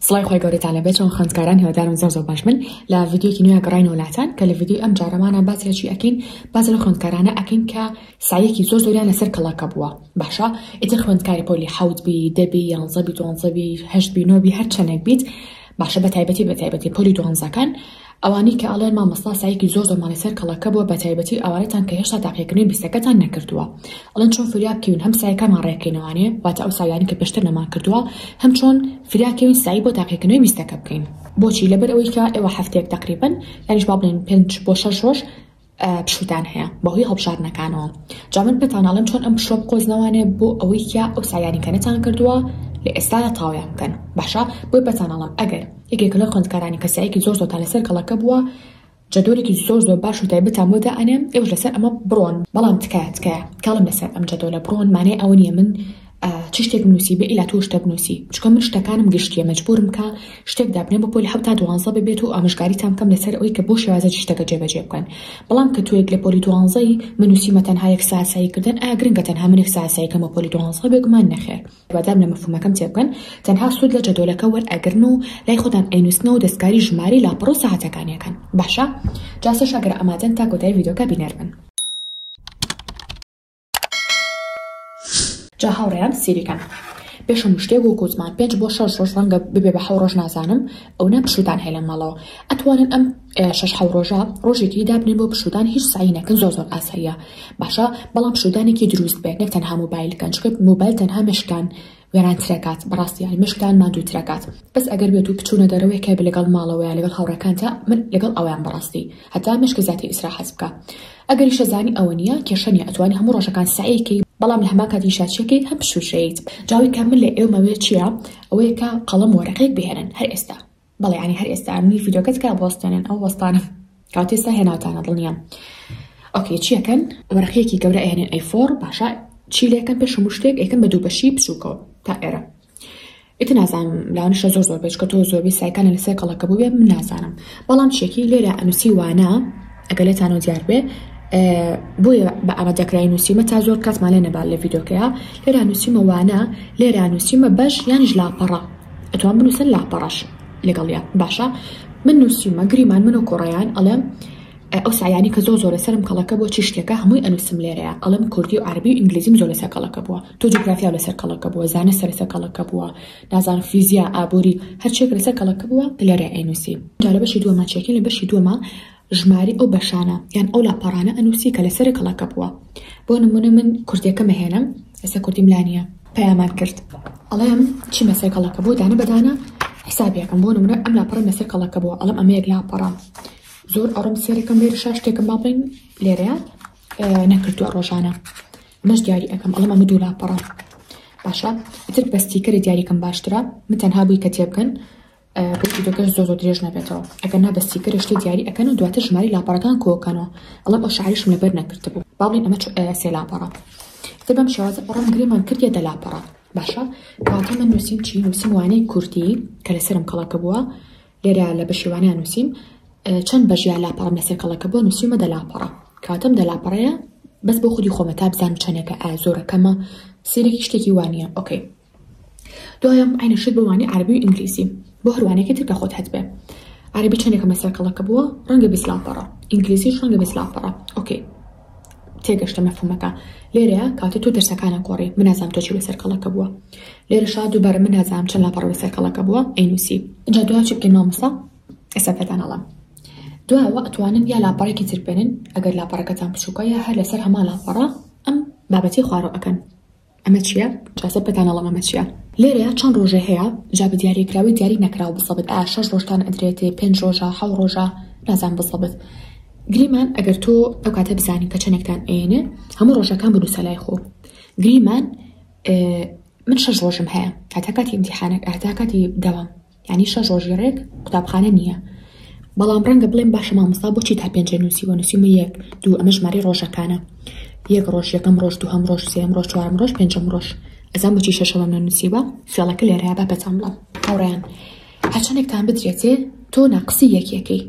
سڵای خوای گەورەتان لەبێت چۆن خوێندکاران هیوادارم زۆر زۆر باش بن لە ڤیدیۆکی نوێ گەڕاینەوە لاتان کە لە ڤیدیۆی ئەم جارەمانە باسی چی ئەکەین باز لە خوێندکارانە ئەکەین کە سایەکی زۆر زۆریان لەسەر کەڵەکە بووە باشە ئیتر خوێندکاری پۆلی حەوت بی دەبی یانزە بی دوانزە بی هەشت بی نۆ بی هەر چەندێک بیت باشە بە تایبەتی بە تایبەتی پۆلی دوانزەکان ئەوانەی کە ئەڵێن مامۆستا سەعیکی زۆر زۆر ماڵی سەر کەڵەکە بووە بەتایبەتی ئەوانەتان کە هێشتا تاقیکردنەوەی بیستەکەتان نەکردووە ئەڵێن چۆن فریا بکەوین هەم سایەکەمان ڕێکەینەوانێ واتە ئەو سایانەی کە پێشتر نەمان کردووە هەم چۆن فریا کەوین سەعی بۆ تاقیکردنەوەی بیستەکە بکەین بۆچی لەبەر ئەوەی کە ئێوە هەفتەیەک تەقریبەن یانیش با بڵێین پێنج بۆ شەش ڕۆژ پشووتان هەیە بەهۆی هەڵبژاردنەکانەوە جا من پێتان ئەڵێم چۆن ئەم پشووە بقۆزنەوانێ بۆ ئەوەی کیا ئەو سایانی کە نەتان کردووە لە ئێستادا تاویان بکەن باشە بۆی پێتان ئەڵێم ئەگەر یەکێک لەو خوێندکارانی کەسایەکی زۆر زۆرتان لەسەر کەڵەکە بووە جەدۆلێکی زۆر زۆر باش و تایبەتان بۆ دائەنێم ئێوەش لەسەر ئەمە بڕۆن بەڵام تکایە تکایە کاڵم لەسەر ئەم جەدۆلە بڕۆن مانای ئەوە نییە من چ شتێک بنووسی بێ ئیلا تۆ شتە بنووسی چکە من شتەکانم گشتیە مەجبورم کە شتێک دابنێ بە پۆلی حوتا دوانزە ببێت و ئامژگاریتان بکەم لەسەر ئەوی کە بۆ شێوازە شتەکە جێبەجێ بکەن بەڵام کە توێک لە پۆلی دوانزەی منوسیمە تەنها یەک ساسایی کردن ئا گرنگە تەنها منێک ساسایی کەمە پۆلی دوانزە بێگومان نەخێر بەدام لە مەفهومەکەم تێبکەن تەنها سوود لە جەدۆلەکە وەر ئەگرن و لای خۆتان ئەینوسنەوە دەستکاری ژماری لاپەڕ و سەعاتەکانیەکەن باشە جاسەش ئەگەر ئامادەن تا کۆتای ڤیدۆکە بینەر بن جا هاوڕێیان سیریکەن پێش هەموو شتێک و کوزمان پێنج بۆ شەش ڕۆژ ڕەنگە ببێ بە حەو ڕۆژ نازانم ئەو نە پشودان هەیە لە ماڵەوە ئەتوانن ئەم شش حەو ڕۆژە ڕۆژێکی دابنێن بۆ پشودان هیچ سعی نەکەن زۆر زۆر ئاساییە باشە بەڵام پشودانێکی دروست بێت نەک تەنها موبایل کەن چکە موبایل تەنها مشکان. وێرانترەکات بەڕاستی یانی مێشکتان ماندووترەکات بەس ئەگەر بێت و بچونە دەرەوە یەکێ بێ لەگەڵ ماڵەوە یا لەگەڵ هاوڕێکانتا من لەگەڵ ئەوەیان بەڕاستی هەتا مێشکت زیاتر ئیسراحەت بکا ئەگەریشە زانی ئەوە نیە کێشە نیە ئەتوانی هەموو ڕۆژەکان سەعی کەی بەڵام لە هەمان کات یشاچیە کەی هەم بشوشەیت جاوەی کە من لە ئێومە وێ چیە ئەوەیە کە قەڵەم وەرەقێک بهێنن هەر ئێستا بەڵێ ئەنی هەر ئێستا منی ڤیدۆکە تکا بوەستێنن ئەو وەستانە کەواتە ئێستا هێناوتانە دڵنیام ئۆکێ چیەکەن وەرەقیەکی گەورە ئەهێنێن ئەی فۆر باشە چی لەکەم پێش هەموو شتێک ئەکەم بە دوو بەشی بچووکەوە تا ئێرە ئیتر نازانم لاوانشە زۆر زۆر بێچکە تۆ زۆربەی سایکانە لەسەر کەڵەکە بووێ من نازانم بەڵام چێکی لێرە ئەنووسی وانە ئەگەلێتان و دیار بێ بۆیە بە ئەمە دەکرای نووسیمە تا زۆر کاتمان لێ نەبال لە ڤیدۆکەیە لێرا نووسیمە وانە لێرا نووسیمە بەش یانیش لاپەڕە ئەتوان بنوسن لاپەڕەش لەگەڵیا باشە من نووسیومە گریمان من و کۆڕیان ئەڵێم ئەو سایانی کە زۆ زۆرە سرم کەڵەکە بۆ چی شتێکە هەمووی ئەنووسم لێرەیە ئەڵم کوردی و عربی و ئینگلیزیم زۆر لەسەر کەڵەکە بووە تۆ جوگرافیا لەسەر کەڵەکە بووە زانە سەرسە کەڵەکە بووە نازان فیزیا ئابووری هەرچێک لەسەر کەڵەکە بووە لێرە ئەینووسی جارە بەشی دووەمە چێکین لە بەشی دووەمە ژماری ئەو بەشانە یان ئەو لاپەڕانە ئەنووسی کە لەسەر کەڵەکە بووە بۆ نموونە من کوردیەکەم ئەهێنم ئێستا کوردیم لا نییە پەیامان کرد ئەڵێم چی مەسەر کەڵەکە بۆ دانە بەدانە حسابیەکەم بۆ نمونە ئەم لاپەڕە مەسەر کەڵەکە بۆ ئەڵم ئەمەیەک لاپەڕە زۆر ئەڕم سێرەکەم لێرە شا شتێکم با بڵین لێرەیە نەکردووە ڕۆژانە مەش دیاری ئەەکەم ئەڵم ئەمە دوو لاپەڕە باشە ئیتر بەستیکەری دیاریکەم باشترە من تەنها بووی کە تێبگەن ڕووی ڤیدۆکەش زۆر زۆر درێژ نەبێتەوە ئەگەر نا بە سیکەرە شتێ دیاری ئەکەن و دواتر ژماری لاپەڕەکان کۆکەنەوە ئەڵێم ئەو شعریشم لەبەر نەکردبوو با بڵێن ئەمە سێ لاپەڕە تر بەم شێوازە ئەڕۆم گرێمان کردیە دە لاپەڕە باشە کەواتە من نووسیم چی نووسیم وانەی کوردی کە لەسرم کەڵەکە بووە لێرە لە بەشیوانە نووسیم چەند بەژیا لاپەڕم لەسەر کەڵەکە بووە نووسیمە دە لاپەڕە کاتم دە لاپەڕەیە بەس بۆ خودی خۆمە تا بزانم چەندێکە ئا زۆرە کەمە سیرێکی شتێکی وانە ئۆکەی دوایەم عەینە شت بۆ وانەی عەرەبی و ئینگلیزی بۆ هەر وانەیەکی تر کە خۆت هەتبێ عەرەبی چەندێکە مەسەر کەڵەکە بووە ڕەنگە بیست لاپەڕە ئینگلیزیش ڕەنگە بیست لاپەڕە ئۆکەی تێگەشتە مەفهومەکە لێرەیە کاتە تۆ دەرسەکانە گۆڕی من نازانم تۆ چی بەسەر کەڵەکە بووە لێرە شا دووبارە من نازانم چەند لاپەڕە بەسەر کەڵەکە بووە ئەینوسی جا دوا چی بکەین مامۆستا ئێستا پێتان ئەڵم دواوە ئەتوانن یا لاپەڕێکی تر بێنن ئەگەر لاپەڕەکەتان بچووکە یا هەر لەسەر هەما لاپەڕە ئەم بابەتی خوارەوە ئەکەن ئەمە چیە جا سەر پێتان ئەڵێم ئەمە چیە. لێرەیا چەن ڕۆژێ هەیە جا بە دیاریە کراوەی دیاری نەکراو بزەبت ئایا شەش ڕۆژتان ئەدرێتێ پێنج ڕۆژە حەو ڕۆژە نازان بزەبت گریمان ئەگەر تۆ ئەو کاتە بزانی کە چەنێکتان ئەیەنێ هەموو ڕۆژەکان بنووسە لای خۆ گریمان من شەش ڕۆژم هەیە هەتا کاتی ئیمتیحانەک هەتا کاتی دەوام یانی شەش ڕۆژی ڕێک قوتابخانە نییە بەڵام ڕەنگە بڵێم باشە مامۆستا بۆچی تا پێنجە نووسیوە نووسیمە یەک دوو ئەمە ژماری ڕۆژەکانە یەک ڕۆژ یەکەم ڕۆژ دووهەم ڕۆژ سێم ڕۆژ چوارم ڕۆژ پێنجم ڕۆژ ئەزان بچی شەشەوەم نە نووسیوە فێڵەکە لێرەیە بە پەچان بڵم هاوڕیان هەچەندێکتان بدرێتێ تۆ ناقسی یەکیەکەی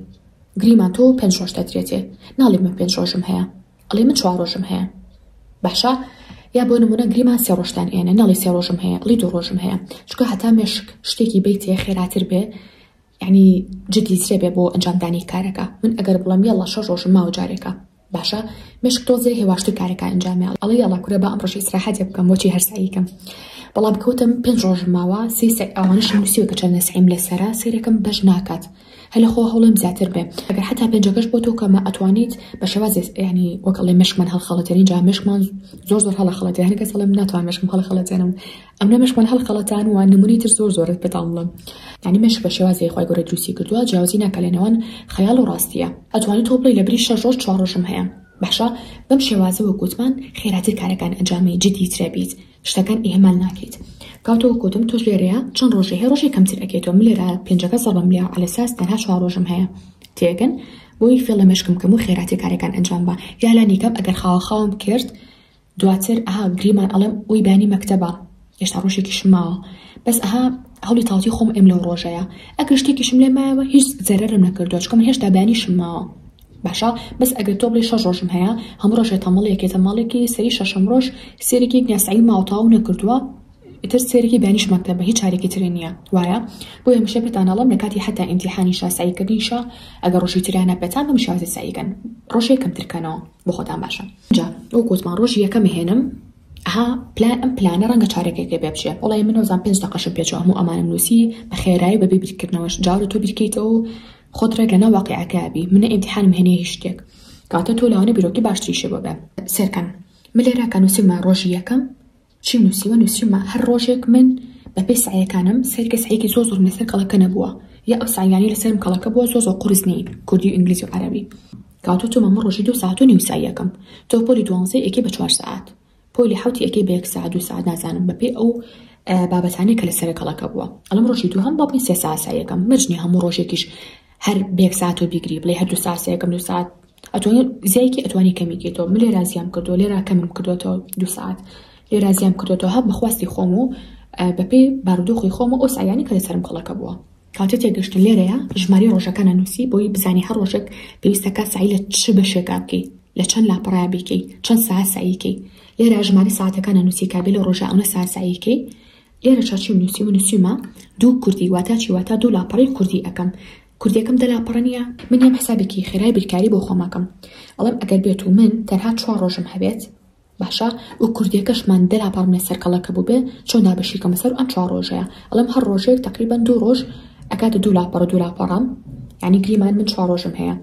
گریمان تۆ پێنج ڕۆژ دەدرێتێ ناڵێ من پێنج ڕۆژم هەیە ئەڵێ من چوار ڕۆژم هەیە باشە یا بۆ نمونە گریمان سێ ڕۆژتان ئێنە نەڵی سێ ڕۆژم هەیە ئەڵی دوو ڕۆژم هەیە چکە هەتا مێشک شتێکی بیتێ خێراتر بێ یعنی جدی ترێ بێ بۆ ئەنجامدانی کارەکە من ئەگەر بڵم یەڵە شەش ڕۆژم ماوە جارێکە باشە مشک تۆزێ هێواشتر کارەکە ئەنجامێڵ ئەڵی یاڵا کورە بە ئەم ڕۆژی سراحەتێ بکەم بۆچی هەرساییکەم بەڵام کەوتم پێنج ڕۆژ ماوە سێ ئەوانش نووسیوە کە چەند نسعیم لەسرە سێرەکەم بەش ناکات هەلە خۆ هەوڵێم زیاتر بێ ئەگەر حەتا پێنجەکەش بۆ تۆ کەمە ئەتوانیت بە شێوازێ ینی وەک ئەڵێ مشکمان هەڵخەڵەتێن ئینجا مشکمان زۆر زۆر هەڵە خەڵەتێ هەنێ کەس ئەڵێم ناتوان مشکم هەڵە خەڵەتێنم ئەم نە مشکمان هەڵ خەڵەتان وە نمونەی تر زۆر زۆرت پێتان بڵێم ینی مشک بە شێوازێ خوای گەورە دروستی کردووە جیاوازی ناکا لە نێوان خەیاڵ و ڕاستیە ئەتوانی تۆ بڵێی لە بری شەش ڕۆژ چوار ڕۆژم هەیە باشە بەم شێوازە وەک گوتمان خێراتر کارەکان ئەنجامی جدی ترە بیت شتەکان ئیهمال ناکەیت کاو تۆ وەکو تۆم تۆش لێرەیا چەن ڕۆژێ هەی ڕۆژێ کەمتر ئەکەی تۆم لێرە پێنجەکە زەڕبم لێ عەلە ساس تەنها چوار ڕۆژم هەیە تێگەن بۆی فێڵە مێشکم کەم و خێراتێ کارەکان ئەنجام با یا لانی کەم ئەگەر خاوە خاوم کرد دواتر ئەها گریمان ئەڵێم ئەوی بانی مەکتەبە هێشتا ڕۆژێکی شماوە بەس ئەها هەڵی تاڵتی خۆم ئەم لەو ڕۆژەیە ئەگەر شتێکیشم لێ مایەوە هیچ زەرەرم نەکردو چکم هێشتا بانی شماوە باشە بەس ئەگەر تۆ بڵێی شەش ڕۆژم هەیە هەموو ڕۆژێ تەمەڵێکێتە ماڵێکی سەری شەشەم ڕۆژ سێرێکی گنیا سعی ماوە تەواو نەکردووە ئیتر سێرێکی دانیش مەکتەبە هیچ چارێکی ترێ نییە وایە بۆ هەمیشە پێتانەڵم لە کاتی حتا ئیمتیحانی شاساییکردنیشە ئەگەر ڕۆژی تریانە پێتان بم شازی ساییکەن ڕۆژێ کەمترکەنەوە بۆ خۆتان باشە جا ئەو گوتمان ڕۆژی یەکەم هێنم ها پلان ئەم پلانە ڕەنگە چارەکێکێ پێ بچێ وڵی منۆزان پێنج دەقەشم پێچوە هەموو ئەمانم نووسی بە خێرایی بە بێ بیرکردنەوەش جاڕ تۆ بیرکەیتەوە خۆت ڕێک لەناو واقیعەکە بی من نە ئیمتیحانم هەنیە هیچ شتێک کاتە تۆ لەوانە بیرۆکی باشتریشە بۆ بە سێرکەن من لێرا کە نووسیمە ڕۆژی یەکەم چیم نووسیوە نووسیمە هەر ڕۆژێک من بەپێی سعیەکانم سەرکە سعیەکی زۆ زۆر لەسەر کەڵەکە نەبووە یا ئەو سعیانی لەسەرم کەڵەکە بووە زۆ زۆ قرس نین کوردی و ئینگلیزی و عەرەبی کاتۆ تۆ مەمە ڕۆژی دو ساعت و نیو سعیەکەم تۆ پۆلی دوانزەی ئەکی بە چوار سعات پۆلی حەوتی ئەکەی بە یەک سەعات دوو سەعات نازانم بەپێی ئەو بابەتانەی کە لەسەر کەڵەکە بووە ئەڵم ڕۆژی دوو هەم بۆ بنی سێ ساسایەکەم مەجنی هەموو ڕۆژێکیش هەر بێک ساعت و بیگری بڵێ هەر دوو ساسەیەکەم دوو ساعت ئەتوانی زیایکی ئەتوانی کەمیکێتەوە من لێ رازیام کردو لێرا کەمم کردوێتەوە دوو ساعت لێ رازیام کردوێتەوە هەب بەخواستی خۆم و بەپێی بارودۆخی خۆمە ئەو سایانی کە لەسەرم کەڵەکە بووە کاتی تێگەشتن لێرەیە ژمارەی ڕۆژەکان ئەنوسی بۆی بزانی هەر ڕۆژێک پێویستە کات سەعی لە چ بەشێکا بکەی لە چەند لاپەڕەیە بیکەی چەند ساعت سەعی کەی لێرە ژمارەی ساعتەکان ئەنوسی کابێ لە ڕۆژە ئەونە ساعت سەعی کەی لێرە چاچیم نووسی و نووسیمە دوو کوردی واتا چی واتا دوو لاپەڕی کوردی ئەەکەم کوردەکەم دە لاپەڕە نییە من یەم حسابێکی خێرای بیرکاری بۆ خۆمەکەم ئەڵم ئەگەر بێت و من تەنها چوار ڕۆژم هەبێت باشە و کوردیەکەشمان دە لاپەڕ بنێ سەر کەڵەکە بوبێ چۆن دابەشی کەمە سەر ئەم چوار ڕۆژەیا ئەڵێم هەر ڕۆژێک تەقریبەن دوو ڕۆژ ئەکاتە دوو لاپەڕ دوو لاپەڕەم یعنی گریمان من چوار ڕۆژم هەیە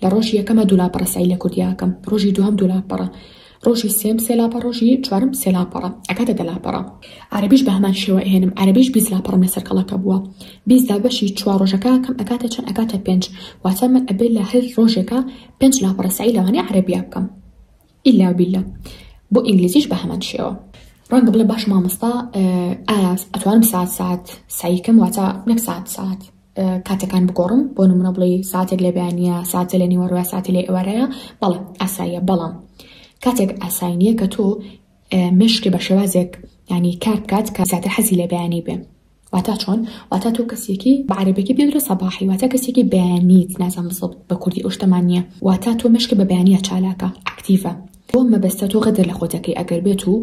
لە ڕۆژی یەکەمە دوو لاپەڕە سەعی لە کوردیاکەم ڕۆژی دووەم دوو لاپەڕە ڕۆژی سێم سێ لاپەڕ ڕۆژی چوارم سێ لاپەڕە ئەکاتە دە لاپەڕە عەرەبیش بە هەمان شێوە ئەهێنم عەرەبیش بیست لاپەڕم لەسەر کەڵەکە بووە بیست دابەشی چوار ڕۆژەکە کەم ئەکاتە چەند ئەکاتە پێنج واتە من ئەبێ لە هەر ڕۆژێکە پێنج لاپەڕە سەعی لەوانەیە عەرەبیا بکەم ئیلا بیلا بۆ ئینگلیزیش بە هەمان شێوە. ڕەنگە بڵێ باش مامۆستا ئایا ئەتوانم سات سات سعیکەم واتە نەک سات سات کاتەکان بگۆڕم بۆ نمونە بڵێ ساتێک لە بەیانە ساتە لە نیوەڕوە ساتی لە ئێوارەیە بەڵێ ئاساییە بەڵام کاتێک ئاسای نییە کە تۆ مشکی بە شێوازێک ینی کار بکات کە زیاتر حەزی لە بەیانی بێ واتا چۆن واتا تۆ کەسێکی بە عەرەبەکی پێ درۆ سەباحی واتا کەسێکی بەیانیت نازان بزڵ بە کوردی ئەو شتەمان نییە واتا تۆ مشک بە بەیانە چالاکە ئەکتیڤە تۆ مەبەستە تۆ غەدر لە خۆتەکەی ئەگەر بێت و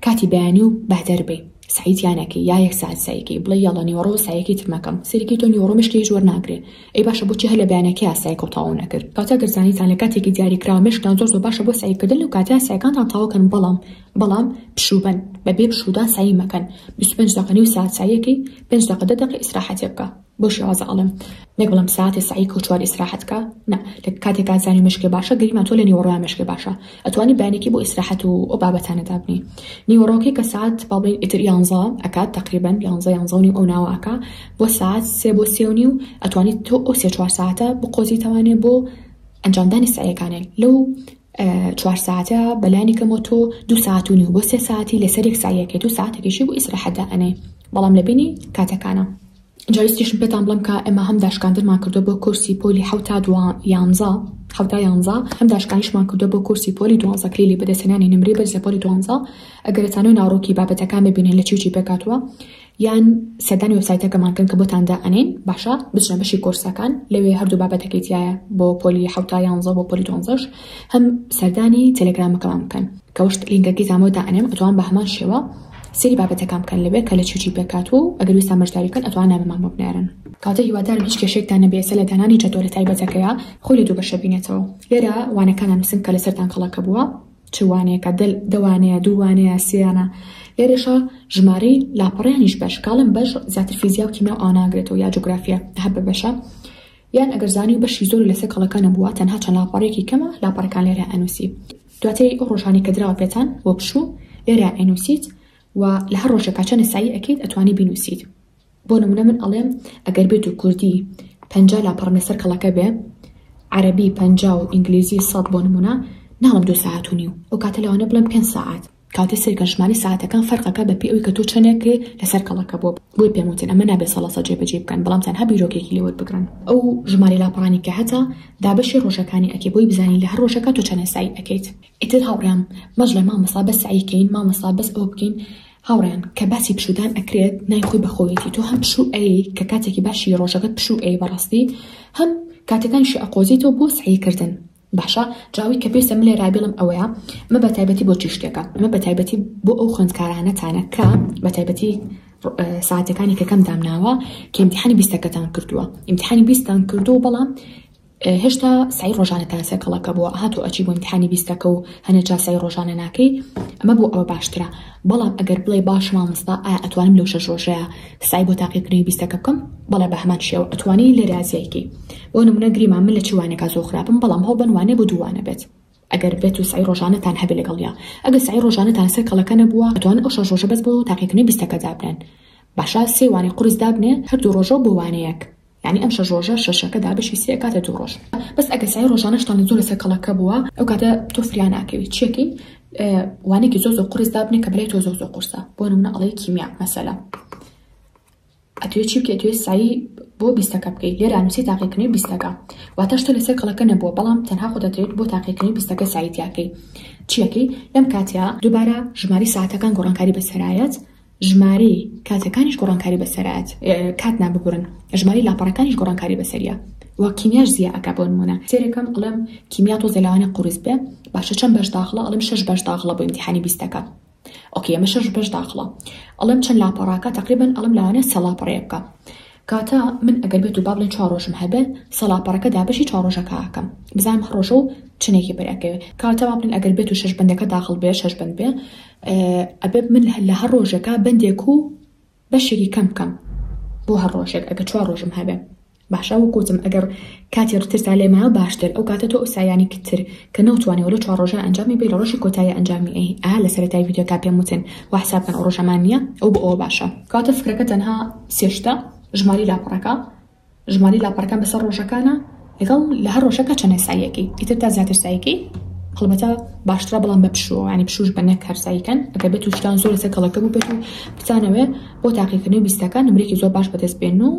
کاتی بەیانی و بەدەر بێ سعیتیانەکەی یا یەک ساعت سایکەی بڵێ یاڵە نیوەڕۆ سایەکی ترمەکەم سەرکی تۆ نیوەڕۆ مشکی زۆر ناگرێ ئەی باشە بۆچی هەر لە بەیانەکە یاسایکە و تاو نەکرد کاتە گەرزانیتان لە کاتێکی دیاریکراوە مشکان زۆر زۆر باشە بۆ سایکردن لەو کاتە سایکانتان تاوکەن بەڵام بەڵام پشوو بەن بەبێ پشوودان سەعی مەکەن بیست و پێنج دەقە نیو سەعات سەعیەکەی پێنج دەقە دە دەقە ئیسراحەتێ بکە بۆ شێوازە ئەڵێم نەک بڵێم سەعاتێ سەعی کەو چوار ئیسراحەت کە نا لە کاتێکا زانی مێشکێ باشە گەریمان تۆ لە نیوەڕۆیا مێشکێ باشە ئەتوانی بەیانێکی بۆ ئیسراحەت و ئەو بابەتانە دابنی نیوەڕۆکەی کە سەعات با بڵێین ئیتر یانزە ئەکات تەقریبەن یانزە یانزە و نیو ئەو ناوە ئەکا بۆ سەعات سێ بۆ سێ و نیو ئەتوانی تۆ ئەو سێ چوار سەعاتە بقۆزیتەوانێ بۆ ئەنجامدانی سەعیەکانێ لەو چوار ساتە بەلانی کەمەوە تۆ دوو سات و نیو بۆ سێ ساتی لەسەر یەک سایەکەیت و ساتێکیشی بۆ ئیسراحەت دائەنێی بەڵام لە بینی کاتەکانە جا ویستیشم پێتان بڵێم کە ئێمە هەم داشکاندنمان کردووە بۆ کۆرسی پۆلی حەوت تا دوا یانزە حەوتا یانزە هەم داشکانیشمان کردووە بۆ کۆرسی پۆلی دوانزە کلیلی بەدەستهێنانی نمرەی بەرز لە پۆلی دوانزە ئەگەر دەتانەوێت ناوەڕۆکی بابەتەکان ببینن لە چی و چی پێکهاتووە یان سەردانی وێبسایتەکەمان بکەن کە بۆتان دائەنێین باشە بچنە بەشی کۆرسەکان لەوێ هەردوو بابەتەکەی تایە بۆ پۆلی حوتا یانزە بۆ پۆلی دۆنزەش هەم سەردانی تەلەگرامەکەمان بکەن کەوەشت لینکەکەی زانەوە دائەنێم ئەتوان بە هەمان شێوە سری بابەتەکان بکەن لەوێ کە لە چی چی پێکات و ئەگەر ویستان بەشداری بکەن ئەتوان نامەمان بۆ بنێرن. کاتە هیوادارم هیچ کێشەیەکتان نەبێ سەر لە دانانی جەدۆلە تایبەتەکەیا خۆی لە دوو بەشە بینێتەوە لێرە وانەکان ئەنوسن کە لەسەرتان کەڵەکە بووە چ وانەیەکە دە دەوانەیە دووانەیە سێیانە لێرەشا ژمارەی لاپەڕیانیش بەش کاڵم بەش زیاتر فیزیا و کیمیا ئاناگرێتەوە یا جوگرافیا هەر بە بەشە یان ئەگەر زانی و بەشی زۆر لەسەر کەڵەکانە بووە تەنها چەند لاپەڕێکی کەمە لاپەڕەکان لێرە ئەنووسی دواتری ئەو ڕۆژانی کە دراوە پێتان بۆ پشوو لێرە ئەنووسیت و لە هەر ڕۆژێکا چەند سایی ئەەکەیت ئەتوانی بینووسیت بۆ نمونە من ئەڵێم ئەگەر بێتو کوردی پەنجا لاپەڕەم لەسەر کەڵەکە بێ عەرەبی پەنجا و ئینگلیزی سەد بۆ نمونە ناڵێم دوو سەعات و نیو ئەو کاتە لەوانەیە بڵێم پێنج سەعات کاتێ سەیرکەن ژمارەی سەعاتەکان فەرقەکە بەپێی ئەوی کە تۆ چەندێکێ لەسەر کەڵەکە بۆ بۆی پێم وتن ئەمە نابێ سەڵا سەد جێبەجێی بکەن بەڵام تەنها بیرۆکێکی لێ وەربگرن ئەو ژمارەی لاپەڕانی کە هەتە دابەشی ڕۆژەکانی ئەکێ بۆی بزانین لە هەر ڕۆژەکە تۆ چەندێ سەعی ئەکەیت ئیتر هاوڕێیان مەجڵێ مامۆستا بەس سەعی کەین مامۆستا بەس ئەوە بکەین هاوڕێیان کە باسی پشوودان ئەکرێت ناوی خۆی بەخۆیەتی تۆ هەم پشوو ئەیەی کە کاتێکی باشی ڕۆژەکەت پشوو ئەیەی بەڕاستی هەم کاتەکانیشی ئەقۆزیتەوە بۆ سەعی کردن باشە جا ئەوەی کە پێویستە من لێرا بیڵێم ئەوەیە ئەمە بە تایبەتی بۆ چی شتێکە ئەمە بە تایبەتی بۆ ئەو خوێندکارانەتانە کە بە تایبەتی ساعتەکانی کە کەم دامناوە کە امتحانی بیستەکەتان کردووە امتحانی بیستان کردو بەڵام هێشتا سەعی ڕۆژانە تا سێ کەڵەکە بووە ئەها تۆ ئەچی بۆ ئیمتیحانی بیستەکە و هەنێ جا سەعی ڕۆژانە ناکەی ئەمە بۆ ئەوە باشترە بەڵام ئەگەر بڵێی باشە مامۆستا ئایا ئەتوانم لەو شەش ڕۆژەیە سەعی بۆ تاقیکردنەوەی بیستەکە بکەم بەڵێ بە هەمان شێوە ئەتوانی لە ریازیای کەی بۆ نموونە گریمان من لە چی وانێکا زۆر خراپم بەڵام هەوڵ بەن وانێ بۆ دوو وانە بێت ئەگەر بێت و سەعی ڕۆژانەتان هەبێ لەگەڵیا ئەگەر سەعی ڕۆژانەتان سەر کەڵەکە نەبووە ئەتوان ئەو شەش ڕۆژە بەس بۆ تاقیکردنەوەی بیستەکە دابنێن باشە سێ وانەی قورس دابنێ هەر دوو ڕۆژە و بۆ وانەیەک یانی ئەم شەش ڕۆژە شەشەکە دابەشی سێ ئەکاتە دوو ڕۆژ بەس ئەگەر سای ڕۆژانەشتان زۆر لەسەر کەڵەکە بووە ئەو کاتە تۆ فریا ناکەوی چیەکەی وانێکی زۆ زۆ قرس دابنێ کە بلای تۆ زۆ زۆ قورسە بۆ نمونە ئەڵەی کیمیا مەسەلا ئەتوێ چی بکە توێ سایی بۆ بیستەکە بکەیت لێرا نووسی تاقیکردنی بیستەکە واتەش تۆ لەسەر کەڵەکە نەبووە بەڵام تەنها خۆ دەترێت بۆ تاقیکردنی بیستەکە سایتیاکەی چیەکەی لەم کاتیا دووبارە ژماری ساعتەکان گۆڕانکاری بەسەرایەت ژمارەی کاتەکانیش گۆڕانکاری بەسەرە ئەت کات نا ببورن ژمارەی لاپەڕەکانیش گۆڕانکاری بەسەریا وە کیمیاش زیا ئەکا بۆ نمونە سێرەکەم ئەڵێم کیمیا تۆزێ لەوانە قورس بێ باشە چەند بەش داخڵە ئەڵێم شەش بەش داخڵە بۆ ئیمتیحانی بیستەکە ئۆکێ ئەمە شەش بەش داخڵە ئەڵێم چەند لاپەڕاکە تقریبا ئەڵم لەوانە سێ لاپەڕەیە بکە کاتە من ئەگەر بێت و با بڵێن چوار ڕۆژم هەبێ سێ لاپەڕەکە دابەشی چوار ڕۆژەکە ئەکەم بزانم هەڕۆژە و چنێکی بەرەکەوێ کاتە با بڵێن ئەگەر بێت و شەش بەندەکە داخڵ بێ شەش بەند بێ ئەبێ من لە هەر ڕۆژەکە بەندێک و بەشێکی کەم بکەم بۆ هەر ڕۆژێک ئەگە چوار ڕۆژم هەبێ باشە وەکوتم ئەگەر کاتی ڕترسا لێ مایە باشتر ئەو کاتە تۆ ئوسایانی کتتر کە نەوتوانێ لە چوار ڕۆژە ئەنجامی بی لە ڕۆژی کۆتایی ئەنجامی ئەی ئا لە سەرەتای ڤیدیۆکە پێم وتن و حساب کەن ئەو ڕۆژەمان نییە ئەو بۆ ئەوە باشە کاتە فکرەکە تەنها سێ شتە ژماری لاپەڕەکە ژمارەی لاپەڕەکان بەسەر ڕۆژەکانە لەگەڵ لە هەر ڕۆژەکە چەند ساییەکەی ئیتر تا زیاتر ساییکەی هەڵبەتە باشترە بەڵام بە پشووە ینی پشوش بە نەک هەرساییکەن ئەگەر بێت تووشتان زۆر لەسەر کەڵەکە بوو بێت و بتانەوێ بۆ تاقیکردنەوەی بیستەکان نمرێکی زۆر باش بەدەست بێن و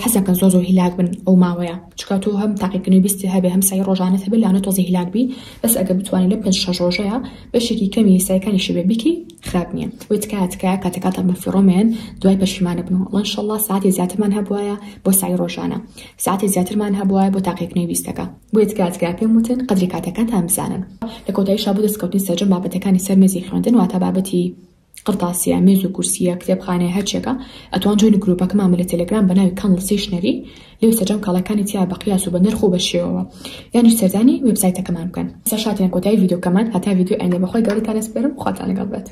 حەزەکە زۆ زۆ هیلاک بن ئەو ماوەیە چکات و هەم تاقیکردنەوەی بیستی هەبێ هەم سای ڕۆژانە هەبێ لەوانە تۆزی هیلاک بی بەس ئەگە بتوانین لە پێنج شەش ڕۆژەیە بەشێکی کەمی سایەکانیشی بێ بیکەی خراپ نیە وەی تکایە تکایە کاتەکانتان بە فیڕۆ مەیەن دوای پەشیمان ئەبن وەڵا ان شاءاللە سەعاتێ زیاترمان هەبوایە بۆ سەعی ڕۆژانە سەعاتێ زیاترمان هەبوایە بۆ تاقیکردنەوەی ویستەکە بۆیە تکایە تکایە پێم وتن قەدری کاتەکانتان بزانن لە کۆتاییشا بۆ دەستکەوتنی سەرجەم بابەتەکانی سەر مێزی خوێندن واتە بابەتی قڕتاسیە مێز و کورسیە کتێبخانەیە هەرچێکە ئەتوان جۆینی گروپەکەمانمە لە تەلەگرام بە ناوی کەنڵ سیشنەری لێو سەرجەم کاڵەکانی تیا بە قیاس و بە نرخ و بە شێوەوە یانیش سەردانی وێبسایتەکەمان بکەن سەر شاتیان کۆتایی ڤیدیۆکەمان هەتا ڤیدیۆ ئەندێ بەخوای گەورەتان ئەسپێرم خواتان لەگەڵ بێت